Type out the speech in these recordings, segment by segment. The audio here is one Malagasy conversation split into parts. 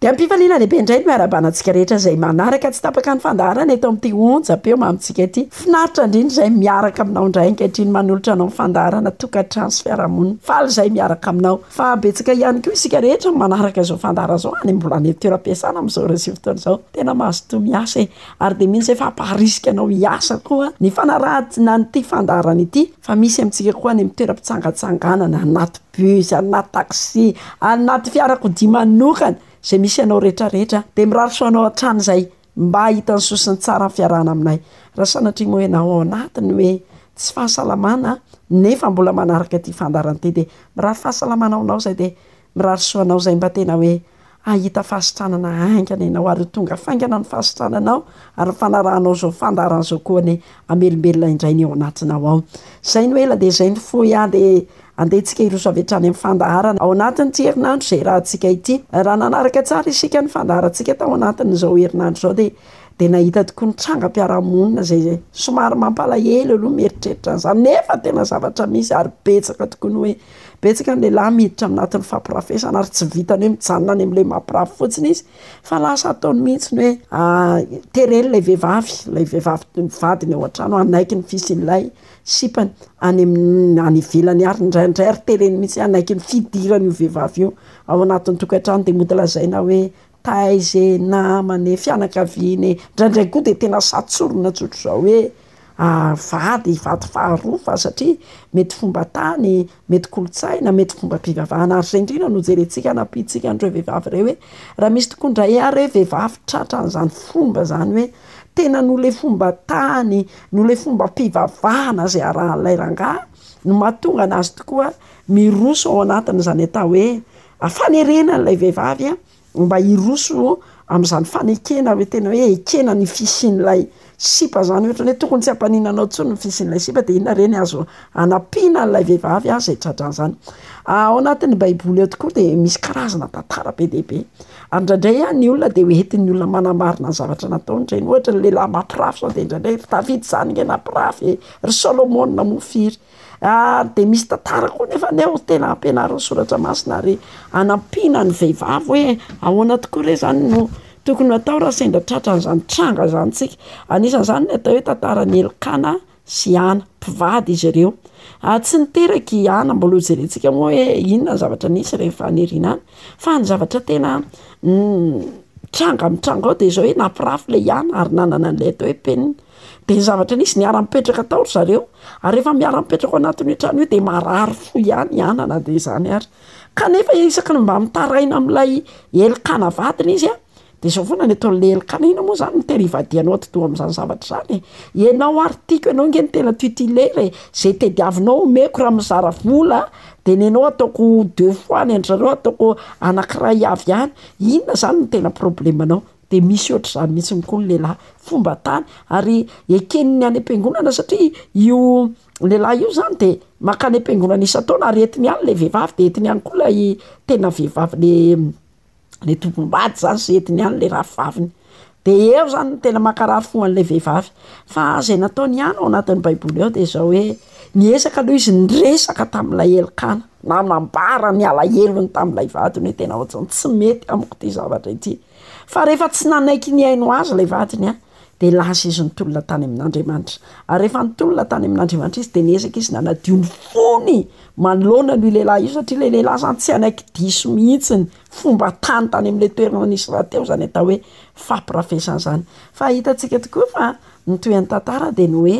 Dia am-pifaliana lehibe indray ny miarabana antsika rehetra izay manaraka tsy tapaka ny fandaharana eto amin'ity onjam-peo mamintsika ity. Finaritra indrindra izay miaraka aminao indray ankehitriny manolotra anao ny fandaharana tokantrano sy fiarahamonina. Faly izay miaraka aminao. Fa betsaka ihany koa isika rehetra no manaraka izao fandaharana izao any mbola any an-toeram-piasana amin'izao ireo sivy taona izao. Tena mazotoa miasa e! Ary dia mino izay fa hampaharisika anao hiasa koa ny fanarahan-tsinan'ity fandaharana ity. Fa misy amintsika koa any amin'ny toeram-pitsangatsanganana, anaty bus, anaty taxi, anaty fiarakodia manokana, izay misy anao rehetra rehetra, dia mirary soa anao hatrany izay mba hahita ny soa sy ny tsara ny fiarahana aminay. Raha sanatria moa ianao ao anatiny hoe tsy fahasalamana, nefa mbola manaraka ity fandaharan'ity, dia mirary fahasalamana ho anao izay, dia Mirary soa anao izay mba tena hoe hahita fahasitranana haingana ianao ary ho tonga faingana ny fahasitrananao ary ny fanarahanao izao fandaharana izao koa anie hamelombelona indray ny ao anatinao ao. Izay no ela dia izay no fohy aho dia andehantsika hiroso avy hatrany amin'ny fandaharana ao anatin'ity herinandro izay iarahantsika ity. Raha nanaraka tsara isika ny fandaharantsika tao anatin'izao herinandro izao dia dia nahita tokoa ny trangam-piarahamonina izay somary mampalahelo aloha mieritreritra an'izany nefa tena zavatra misy ary betsaka tokoa ny hoe Betsaka ny lehilahy miditra ao anatin'ny fampirafesana ary tsy vitan'ny hoe mijanona any amin'ilay mampirafy fotsiny izy fa lasa ataony mihitsy ny hoe tereny ilay vehivavy, ilay vehivavy toy ny vadiny ao an-trano hanaiky ny fisian'ilay sipany any amin'ny any ivelany ary indraindray ary tereny mihitsy hanaiky ny fidiran'io vehivavy io ao anatin'ny tokantrano dia mody lazaina hoe Taize namane fianakaviane ndraindray koa dia tena sahy tsorina tsotra izao hoe vady vady faharoa fa satria mety fomba tany, mety kolontsaina, mety fomba fivavahana ary izay indrindra no jerentsika hanampiantsika an'ireo vehivavy ireo hoe raha misy tokoa indray ary hoe vehivavy tratra an'izany fomba izany hoe tena noho ilay fomba tany, noho ilay fombam-pivavahana izay arahan'ilay rangahy no mahatonga an'azy tokoa miroso ao anatin'izany atao hoe A, Fanerena an'ilay vehivavy mba hiroso amin'izany fanekena hoe tena hoe ekena ny fisian'ilay sipa zany, ohatra ny hoe tokony tsy hampaniana anao intsony ny fisian'ilay sipa, dia inona re ny azo anampiana an'ilay vehivavy izay tra-drano izany? A, Ao anatin'ny Baiboly ao tokoa dia misy karazana tantara be dia be, ary indraindray a ny olona dia ho entin'ny olona manamarina ny zavatra nataony ireny, ohatra ny lehilahy mampirafy izao dia indraindray ry Davida izany nge nampirafy e, ry Solomona moa firy? Ary dia misy tantara koa nefa ny ao tena ampianarin'ny soratra masina ary anampiana ny vehivavy hoe ahoana tokoa re zany no tokony hatao raha sendra tratra an'izany tranga zany tsika. Anisan'izany ny atao hoe tantaran'i Elkana sy Hana, mpivady izy ireo. Ary tsy niteraka i Hana, mbola ho jerentsika moa hoe inona ny zavatra nisy rehefa nirina any. Fa ny zavatra tena tranga mitranga ao dia izao hoe nampirafy ilay Hana ary nanana an'ilay atao hoe penina. Dia ny zavatra nisy, niara-nipetraka tao ry zareo, ary rehefa miara-mipetraka ao anatin'io trano io dia marary fo ihany i Ana na dia izany ary. Kanefa isaky ny mba mitaraina amin'ilay elikana vadiny izy a, dia izao foana ny ataon'ilay elikana, inona moa izany no tena ivadihanao atidoha amin'izany zavatra izany e? Ianao ary tiako, ianao ange no tena titulaire e! Izay tadiavinao omeko raha mizara vola a, dia ny anao ataoko deux fois, ny an-dry zareo ataoko anankiray avy ihany. Inona izany no tena problemanao? Dia misy ohatr'izany mihitsy ny koa ny lehilahy, fomba tany ary eken'ny any am-piangonana satria io lehilahy io zany de maka any am-piangonana isan-taona ary entiny any le vehivavy de entiny any koa lay tena vehivavy le le tompom-bady zany sy entiny any le rahavaviny. De eo zany no tena mankarary fo an'le vehivavy. Fa zay nataony ihany ao anatin'ny baiboly ao de zao hoe, niezaka aloha izy niresaka tamin'ilay elikana, nanambara ny alahelony tamin'ilay vadiny hoe tena ohatrany tsy mety amiko ty zavatra ity. Fa rehefa tsy nanaiky nihaino Azy ilay vadiny, dia lasa izy nitolona tany amin'Andriamanitra. Ary rehefa nitolona tany amin'Andriamanitra izy, dia niezaka izy nanadio ny fony manoloana an'io lehilahy io, satria ilay lehilahy izany tsy hanaiky diso mihitsy ny fomba tany tany amin'ilay toerana nisy rahateo izany atao hoe fampirafesana izany. Fa hitantsika tokoa fa ny tohin'ny tantara dia ny hoe,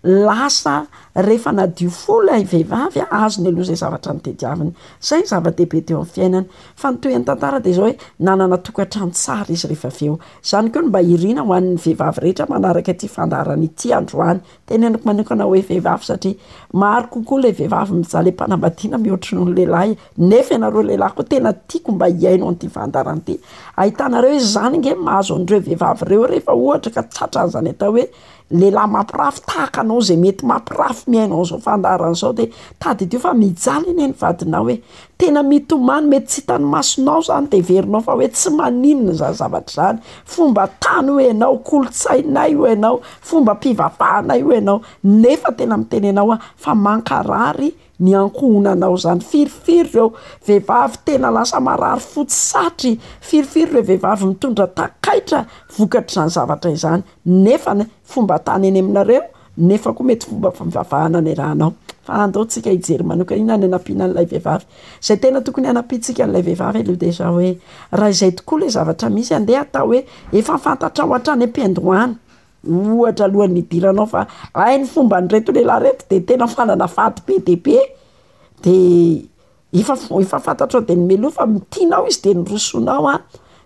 lasa rehefa nadio fo ilay vehivavy azony aloha izay zavatra nitediaviny, izay no zava-dehibe teo amin'ny fiainany, fa ny tohin'ny tantara dia izao hoe nanana tokantrano tsara izy rehefa avy eo, izany koa no mba iriana ho an'ny vehivavy rehetra manaraka ity fandaharana ity androany, teneniko manokana hoe vehivavy satria maro kokoa ilay vehivavy mijaly am-panambadiana mihoatra noho ny lehilahy e! nefa ianareo lehilahy koa tena tiako mba hihaino an'ity fandaharana ity, ahitanareo izany ange ny mahazo an'ireo vehivavy ireo rehefa ohatra ka tratran'izany atao hoe lehilahy mampirafy tahaka anao zay mety mampirafy ny ainao zao fandaharana zao de tadidio fa mijaly anie ny vadinao e! tena mitomany mety tsy hitany masonao zany de heverinao fa hoe tsy maninona zany zavatra zany, fomba tany hoy ianao, kolontsainay hoy ianao, fomba mpivavahanay hoy ianao, nefa tena miteny anao aho fa mankarary ny ankohonanao izany firifiry ireo vehivavy tena lasa marary fo tsy satry firifiry ireo vehivavy mitondra takaitra vokatr'izany zavatra izany nefa ny fomba tany eny aminareo nefa koa mety fomba fivavahana ny rahanao fa andao tsika hijery manoka inona ny hanampiana an'ilay vehivavy izay tena tokony hanampiantsika an'ilay vehivavy aloha dia izao hoe raha izay tokoa ilay zavatra misy andeha atao hoe efa fantatrao hatrany am-piandohana Ohatra alohan'ny hidiranao fa raha ny fomban'ireto lehilahy ireto de tena fanana fady be dia be de efa f- efa fantatrao dieny mialoha fa tianao izy de nirosonao a,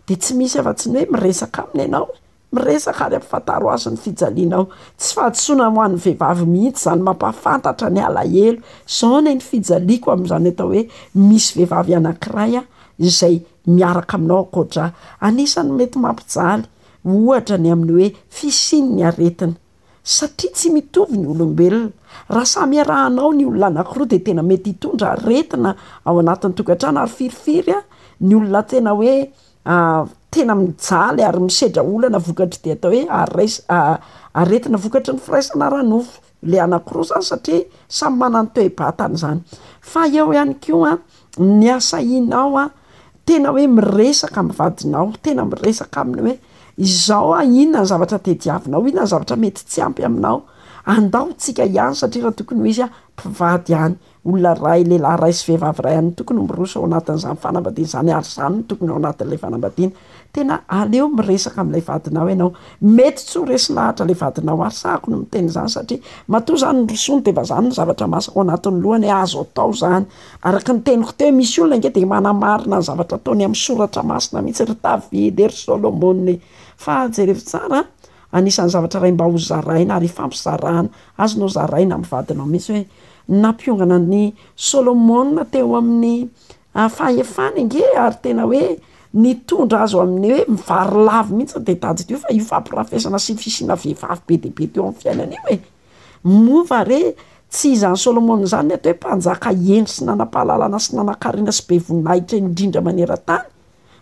de tsy misy afa tsy ny hoe miresaka aminy ianao e, miresaka ary ampifantaro azy ny fijalianao, tsy fahadisoana ho an'ny vehivavy mihitsy zany mampahafantatra ny alahelo, zao anie ny fijaliako amin'izany atao hoe misy vehivavy anankiray a izay miaraka aminao ankoatra ahy, anisany mety mampijaly. ohatra ny amin'ny hoe fisian'ny aretina. Satria tsy mitovy ny olombelona, raha samy iarahanao ny olona anankiroa dia tena mety hitondra aretina ao anatin'ny tokantrano ary firifiry ny olona tena hoe tena mijaly ary misedra olana vokatr'ity atao hoe aretina vokatry ny firaisana ara-nofo. le anakiroa zany satria samy manana ny toe-batany zany, fa eo ihany koa ny asahinao tena hoe miresaka amin'ny vadinao, tena miresaka aminy hoe izao an inona ny zavatra tadiavinao, inona ny zavatra mety tsy ampy aminao, andao ho tsika ihany satria raha tokony ho izy an mpivady ihany Olona iray, lehilahy iray sy vehivavy iray ihany no tokony ho miroso ao anatin'izany fanambadiana izany ary izany no tokony ao anatin'ilay fanambadiana. Tena aleo miresaka amin'ilay vadinao ianao. Mety tsy ho resy lahatra ilay vadinao ary sahako ny miteny izany satria matoa izany nirosoany dia mba izany ny zavatra masaka ao anatin'ny lohany hoe azo atao izany. Araka ny teniko teo, misy olona ange dia manamarina ny zavatra ataony amin'ny soratra masina mihitsy, ry Davida e, ry Solomona e. Fa jereo tsara an! Anisan'ny zavatra iray mba ho zaraina ary ifampizarana, azonao zaraina amin'ny vadinao mihitsy hoe, nampiongana an'i Solomona teo amin'ny fahefany ange ary tena hoe nitondra azy ho amin'ny hoe mivarilavo mihitsy ny teti-tadidio fa io fampirafesana sy fisiana vehivavy be dia be teo amin'ny fiainany io e! Moa va re tsy izany Solomona izany ny atao hoe mpanjaka hendry sy nanam-pahalalana sy nanankarena sy be voninahitra indrindra maneran-tany?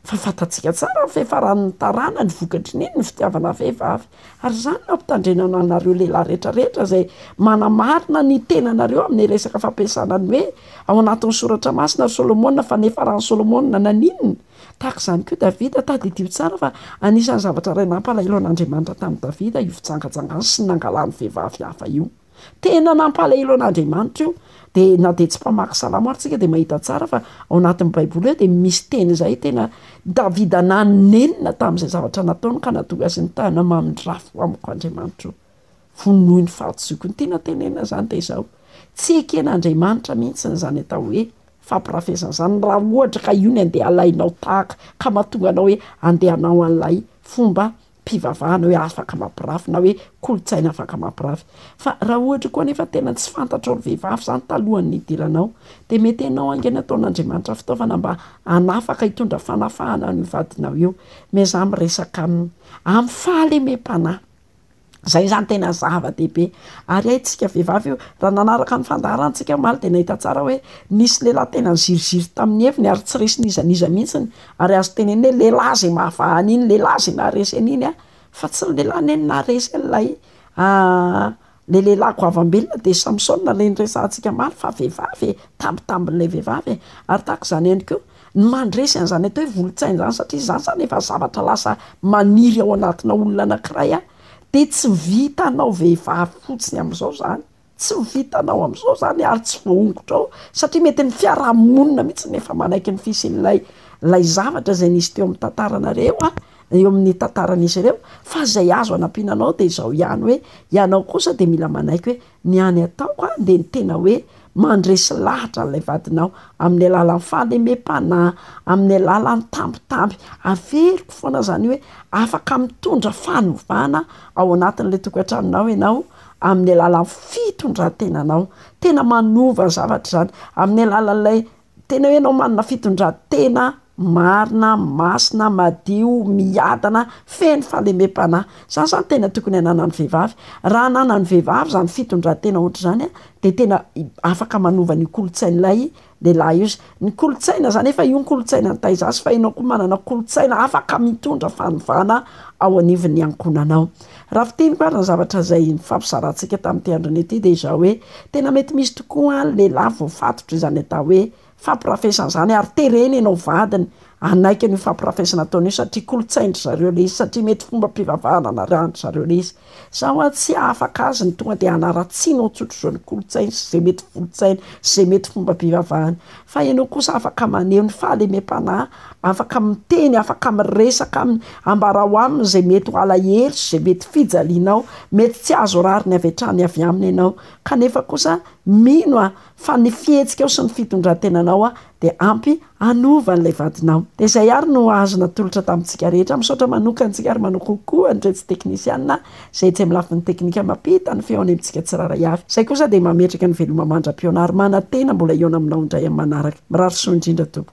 Fa fantatsika tsara ny fiafaran'ny tarana, ny vokatry ny iny ny fitiavana vehivavy. Ary izany no ampitandrenana anareo lehilahy rehetra rehetra izay manamarina ny tenanareo amin'ny resaka fampiasana ny hoe ao anatin'ny soratra masina ry Solomona fa niafaran'i Solomona naninona? Tahaka izany koa Davida, tadidio tsara fa anisan'ny zavatra iray nampalahelo an'Andriamanitra tamin'i Davida io fijangajangany sy ny nangalany vehivavy hafa io. Tena nampalahelo an'Andriamanitra io. Dia na dia tsy mpamaky salamo ary tsika dia mahita tsara fa ao anatin'ny baiboly eo dia misy teny izay tena Davida nanenina tamin'izay zavatra nataony ka nahatonga azy ny tanana mamindrafo amiko Andriamanitro. Vonoy ny fahadisoiko. Ny tena tenenina izany dia izao, tsy eken'Andriamanitra mihitsy izany atao hoe fampirafesana izany raha ohatra ka io no andeha alainao tahaka ka mahatonga anao hoe andeha hanao an'ilay fomba mpivavahana hoe afaka mampirafy na hoe kolontsaina afaka mampirafy. Fa raha ohatra koa anefa tena tsy fantatrao ry vehivavy izany talohan'ny nidiranao dia mety ianao haingana ataon'Andriamanitra fitaovana mba hanafaka hitondra fanafahana an'io vadinao io. Miezaha miresaka aminy amin'ny fahalemem-panahy. Izay izany tena zava-dehibe. Ary hay tsika vehivavy io, raha nanaraka ny fandaharantsika omaly dia nahita tsara hoe nisy lehilahy tena niziriziry tamin'ny heviny ary tsy resy n'iza n'iza mihitsy ny Ary azo tenenina hoe lehilahy izay mahavaha an'iny lehilahy izay naharesy an'iny an! fa tsy ny lehilahy anie no naharesy an'ilay le lehilahy goavambelona dia Samsona ilay noresahantsika omaly fa vehivavy e! tambitambin'ilay vehivavy e! ary tahaka izany ihany koa ny mandresy an'izany atao hoe volotsaina izany satria izany izany efa zavatra lasa maniry ao anatina olona anankiray an! dia tsy vitanao vehivavy fotsiny amin'izao izany Tsy ho vitanao amin'izao izany ary tsy voahongotrao satria mety ny fiarahamonina mihitsy no efa manaiky ny fisian'ilay ilay zavatra izay nisy teo amin'ny tantaranareo a, eo amin'ny tantaran'izy ireo fa izay azo anampiana anao dia izao ihany hoe ianao kosa dia mila manaiky hoe ny any ataoko a dia ny tena hoe mandresy lahatra an'ilay vadinao amin'ny alalan'ny fahalemem-panahy, amin'ny alalan'ny tambitamby, averiko foana izany hoe afaka mitondra fanovana ao anatin'ilay tokantranonao ianao amin'ny alalan'ny fitondran-tenanao. Tena manova zavatra izany, amin'ny alalan'ilay tena hoe ianao manana fitondran-tena marina, masina, madio, miadana, feno fahalemem-panahy. Izany izany tena tokony hananan'ny vehivavy. Raha ananan'ny vehivavy izany fitondran-tena ohatr'izany dia tena afaka manova an'io kolontsain'ilay lehilahy io sy ny kolontsaina zany efa io ny kolontsaina ny taiza sy fa enao koa manana kolontsaina afaka mitondra fanovana ao anivon'ny ankohonanao raha fiteniko ary ny zavatra zay nifampizarantsika tamin'ity androny ity dia izao hoe tena mety misy tokoa ny lehilahy voafatotra izany atao hoe fampirafesana izany ary terena enao vadiny hanaiky an'io fampirafesana ataony io satria kolontsain-dry zareo le izy satria mety fombam-pivavahana narahany zareo le izy Za hoa tsy afaka azy ny tonga dia hanaratsiana ao tsotr'izao ny kolontsainy sy izay mety volotsainy sy izay mety fomba bivavahany. Fa ianao kosa afaka maneho ny fahalemem-panahy, afaka miteny, afaka miresaka aminy, ambarao aminy izay mety ho alahelo sy izay mety fijalianao, mety tsy azo rariny avy hatrany avy aminy ianao. Kanefa kosa mino aho Fa ny fihetsikao sy ny fitondrantenanao dia ampy hanova an'ilay vadinao. Dia izay ary no azo natolotra tamintsika rehetra. Misaotra manokana antsika ary manokana koa an'iretsy teknisiana izay etsy amin'ny lafiny teknika mampita ny feo any amintsika tsirairay avy. Izay kosa dia mametraka ny veloma mandra-pihaona ary manantena mbola hihaona aminao indray amin'ny manaraka. Mirary soa indrindra tompoko.